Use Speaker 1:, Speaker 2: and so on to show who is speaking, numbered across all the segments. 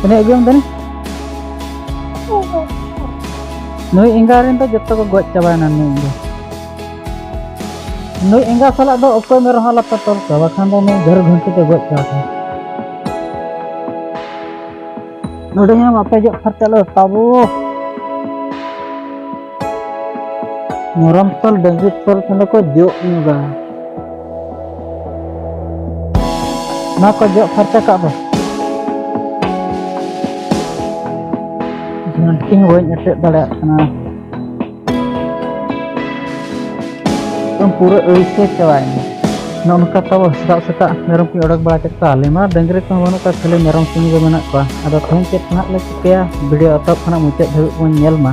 Speaker 1: ᱛᱤᱱᱟᱹᱜ ᱟᱹᱜᱩᱭᱟᱢ ᱛᱟᱹᱱᱤ ᱱᱩᱭ ᱮᱸᱜᱟ ᱨᱮᱱ ᱫᱚ ᱡᱚᱛᱚ ᱠᱚ ᱜᱚᱡ ᱪᱟᱵᱟᱭᱮᱱᱟ ᱱᱩᱭ ᱮᱸᱜᱟ ᱱᱩᱭ ᱮᱸᱜᱟ ᱥᱟᱞᱟᱜ ᱫᱚ ᱚᱠᱚᱭ ᱢᱮᱨᱚᱢ ᱦᱚᱸ ᱟᱞᱚᱯᱮ ᱛᱚᱞ ᱠᱚᱣᱟ ᱵᱟᱠᱷᱟᱱ ᱫᱚ ᱱᱩᱭ ᱜᱷᱟᱹᱨ ᱜᱷᱩᱱᱴᱤ ᱛᱮ ᱜᱚᱡ ᱪᱟᱵᱟ ᱠᱚᱣᱟ ᱱᱚᱰᱮ ᱦᱚᱸ ᱵᱟᱯᱮ ᱡᱚᱜ ᱯᱷᱟᱨᱪᱟ ᱞᱮ ᱛᱟᱵᱚ ᱢᱚᱨᱟᱢ ᱛᱚᱞ ᱰᱟᱹᱝᱨᱤ ᱛᱚᱞ ᱠᱷᱟᱱ ᱠᱚ ᱡᱚᱜ ᱧᱚᱜᱟ ᱚᱱᱟ ᱠᱚ ᱡᱚᱜ ᱯᱷᱟᱨᱪᱟ ᱠᱟᱜ ᱫᱚ ᱡᱷᱟᱹᱱᱴᱤ ᱦᱚᱸ ᱵᱟᱹᱧ ᱮᱴᱮᱫ ᱫᱟᱲᱮᱭᱟᱜ ᱠᱟᱱᱟ ᱮᱠᱫᱚᱢ ᱯᱩᱨᱟᱹ ᱟᱹᱲᱤᱥᱮ ᱪᱟᱵᱟᱭᱮᱱᱟ ᱱᱚᱝᱠᱟ ᱛᱟᱵᱚ ᱥᱮᱛᱟᱜ ᱥᱮᱛᱟᱜ ᱢᱮᱨᱚᱢ ᱠᱚᱧ ᱚᱰᱚᱠ ᱵᱟᱲᱟ ᱠᱮᱫ ᱠᱚᱣᱟ ᱟᱞᱮ ᱢᱟ ᱰᱟᱹᱝᱨᱤ ᱠᱚᱦᱚᱸ ᱵᱟᱹᱱᱩᱜ ᱠᱚᱣᱟ ᱠᱷᱟᱹᱞᱤ ᱢᱮᱨᱚᱢ ᱥᱩᱢᱩᱝ ᱜᱮ ᱢᱮᱱᱟᱜ ᱠᱚᱣᱟ ᱟᱫᱚ ᱛᱮᱦᱮᱧ ᱪᱮᱫ ᱱᱟᱦᱟᱜ ᱞᱮ ᱪᱤᱠᱟᱹᱭᱟ ᱵᱷᱤᱰᱤᱭᱳ ᱮᱛᱚᱦᱚᱵ ᱠᱷᱚᱱᱟᱜ ᱢᱩᱪᱟᱹᱫ ᱫᱷᱟᱹᱵᱤᱡ ᱵᱚᱱ ᱧᱮᱞ ᱢᱟ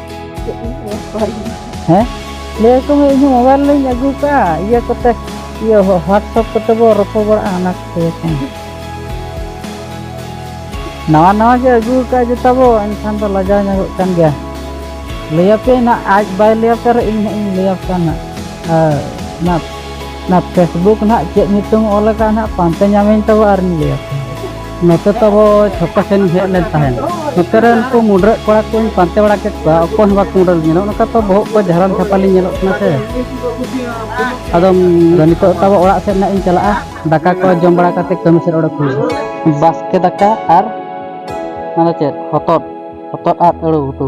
Speaker 1: ᱦᱮᱸ ᱞᱟᱹᱭ ᱟᱠᱚ ᱢᱮ ᱤᱧ ᱢᱳᱵᱟᱭᱤᱞ ᱞᱤᱧ ᱟᱹᱜᱩ ᱠᱟᱜᱼᱟ ᱤᱭᱟᱹ ᱠᱚᱛᱮ ᱤᱭᱟᱹ ᱦᱳᱣᱟᱴᱥᱮᱯ ᱠᱚᱛᱮ ᱵᱚ ᱨᱚᱯᱚᱲ ᱵᱟᱲᱟᱜᱼᱟ ᱚᱱᱟ ᱠᱚᱛᱮ ᱱᱟᱣᱟ ᱱᱟᱣᱟ ᱜᱮ ᱟᱹᱜᱩ ᱠᱟᱜᱼᱟ ᱡᱚᱛᱚ ᱵᱚ ᱮᱱᱠᱷᱟᱱ ᱫᱚ ᱞᱟᱡᱟᱣ ᱧᱚᱜᱚᱜ ᱠᱟᱱ ᱜᱮᱭᱟ ᱞᱟᱹᱭᱟᱯᱮ ᱱᱟ ᱟᱡ ᱵᱟᱭ ᱞᱟᱹᱭᱟᱯᱮ ᱨᱮ ᱤᱧ ᱦᱟᱸᱜ ᱤᱧ ᱞᱟᱹᱭᱟᱯᱮ ᱱᱟ ᱱᱟ ᱱᱟ ᱯᱷᱮᱥᱵᱩᱠ ᱱᱟᱜ ᱪᱮᱫ ᱧᱩᱛᱩᱢ ᱚᱞ ᱟᱠᱟᱫ ᱱᱟᱜ ᱯᱟᱱᱛᱮ ᱧᱟᱢᱤᱧ ᱛᱟᱵᱚ ᱟᱨᱤᱧ ᱞᱟᱹᱭᱟᱯᱮ ᱱᱚᱛᱮ ᱛᱟᱵᱚ ᱪᱷᱚᱠᱟ ᱥᱮᱱ ᱦᱮᱡ ᱞᱮᱱ ᱛᱟᱦᱮᱱ ᱱᱚᱛᱮ ᱨᱮ ᱩᱱᱠᱩ ᱢᱩᱰᱨᱟᱹᱜ ᱠᱚᱲᱟ ᱠᱚᱧ ᱯᱟᱱᱛᱮ ᱵᱟᱲᱟ ᱠᱮᱫ ᱠᱚᱣᱟ ᱚᱠᱚᱭ ᱦᱚᱸ ᱵᱟᱠᱚ ᱢᱩᱰᱨᱟᱹ ᱧᱮᱞᱚᱜ ᱱᱚᱝᱠᱟ ᱛᱚ ᱵᱚᱦᱚᱜ ᱠᱚ ᱡᱷᱟᱨᱟᱢ ᱪᱷᱟᱯᱟᱞᱤ ᱧᱮᱞᱚᱜ ᱠᱟᱱᱟ ᱥᱮ ᱟᱫᱚ ᱱᱤᱛᱚᱜ ᱛᱟᱵᱚ ᱚᱲᱟᱜ ᱥᱮᱫ ᱱᱟᱜ ᱤᱧ ᱪᱟᱞᱟᱜᱼᱟ ᱫᱟᱠᱟ ᱠᱚ ᱡᱚᱢ ᱵᱟᱲᱟ ᱠᱟᱛᱮ ᱠᱟᱹᱢᱤ ᱥᱮᱫ ᱚᱰᱚᱠ ᱦᱩᱭᱩᱜᱼᱟ ᱵᱟᱥᱠᱮ ᱫᱟᱠᱟ ᱟᱨ ᱚᱱᱟ ᱪᱮᱫ ᱦᱚᱛᱚᱫ ᱦᱚᱛᱚᱫ ᱟᱨ ᱟᱹᱲᱩ ᱩᱛᱩ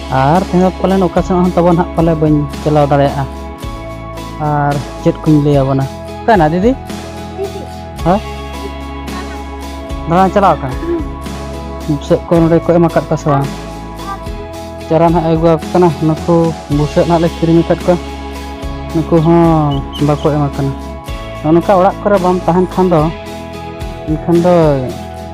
Speaker 1: ᱟᱨ ᱛᱮᱦᱮᱧ ᱫᱚ ᱯᱟᱞᱮᱱ ᱚᱠᱟ ᱥᱮᱫ ᱦᱚᱸ ᱛᱟᱵᱚᱱ ᱦᱟᱸᱜ ᱯᱟᱞᱮ ᱵᱟᱹᱧ ᱪᱟᱞᱟᱣ ᱫᱟᱲᱮᱭᱟᱜᱼᱟ ᱟᱨ ᱪᱮᱫ ᱠᱚᱧ ᱞᱟᱹᱭ ᱟᱵᱚᱱᱟ ᱚᱠᱟᱭᱮᱱᱟ ᱫᱤᱫᱤ ᱦᱮᱸ ᱫᱟᱬᱟᱱ ᱪᱟᱞᱟᱣ ᱠᱟᱱᱟ ᱵᱩᱥᱟᱹᱜ ᱠᱚ ᱱᱚᱰᱮ ᱠᱚ ᱮᱢ ᱟᱠᱟᱫ ᱠᱚᱣᱟ ᱥᱮ ᱵᱟᱝ ᱪᱟᱨᱟ ᱱᱟᱦᱟᱜ ᱟᱹᱜᱩ ᱟᱠᱚ ᱠᱟᱱᱟ ᱱᱩᱠᱩ ᱵᱩᱥᱟᱹᱜ ᱱᱟᱦᱟᱜ ᱞᱮ ᱠᱤᱨᱤᱧ ᱟᱠᱟᱫ ᱠᱚᱣᱟ ᱱᱩᱠᱩ ᱦᱚᱸ ᱵᱟᱠᱚ ᱮᱢ ᱟᱠᱟᱱᱟ ᱱᱚᱜᱼᱚ ᱱᱚᱝᱠᱟ ᱚᱲᱟᱜ ᱠᱚᱨᱮ ᱵᱟᱢ ᱛᱟᱦᱮᱱ ᱠᱷᱟᱱ ᱫᱚ ᱮᱱᱠᱷᱟᱱ ᱫᱚ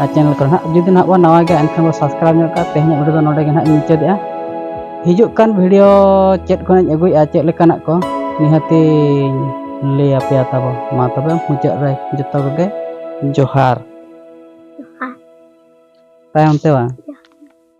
Speaker 1: ᱟᱨ ᱪᱮᱱᱮᱞ ᱠᱚᱨᱮ ᱱᱟᱦᱟᱜ ᱡᱩᱫᱤ ᱱᱟᱦᱟᱜ ᱵᱚᱱ ᱱᱟᱣᱟ ᱜᱮᱭᱟ ᱮᱱᱠᱷᱟᱱ ᱵᱚᱱ ᱥᱟᱵᱥᱠᱨᱟᱭᱤᱵᱽ ᱧᱚᱜ ᱠᱟᱜᱼᱟ ᱛᱮᱦᱮᱧᱟᱜ ᱵᱷᱤᱰᱤᱭᱳ ᱫᱚ ᱱᱚᱰᱮ ᱜᱮ ᱱᱟᱦᱟᱜ ᱢᱩᱪᱟᱹᱫᱮᱜᱼᱟ ᱦᱤᱡᱩᱜ ᱠᱟᱱ ᱵᱷᱤᱰᱤᱭᱳ ᱪᱮᱫ ᱠᱚᱧ ᱟᱹᱜᱩᱭᱮᱜᱼᱟ ᱪᱮᱫ ᱞᱮᱠᱟᱱᱟᱜ ᱠᱚ ᱱᱤᱦᱟᱹᱛᱤᱧ ᱞᱟᱹᱭ ᱟᱯᱮᱭᱟ ᱛᱟᱵᱚ ᱢᱟ ᱛᱚᱵᱮ ᱢᱩᱪᱟᱹᱫ ᱨᱮ ᱡᱚᱛᱚ ᱠᱚᱜᱮ ᱡᱚᱦᱟᱨ ᱛᱟᱭᱚᱢ ᱛᱮ ᱵᱟᱝ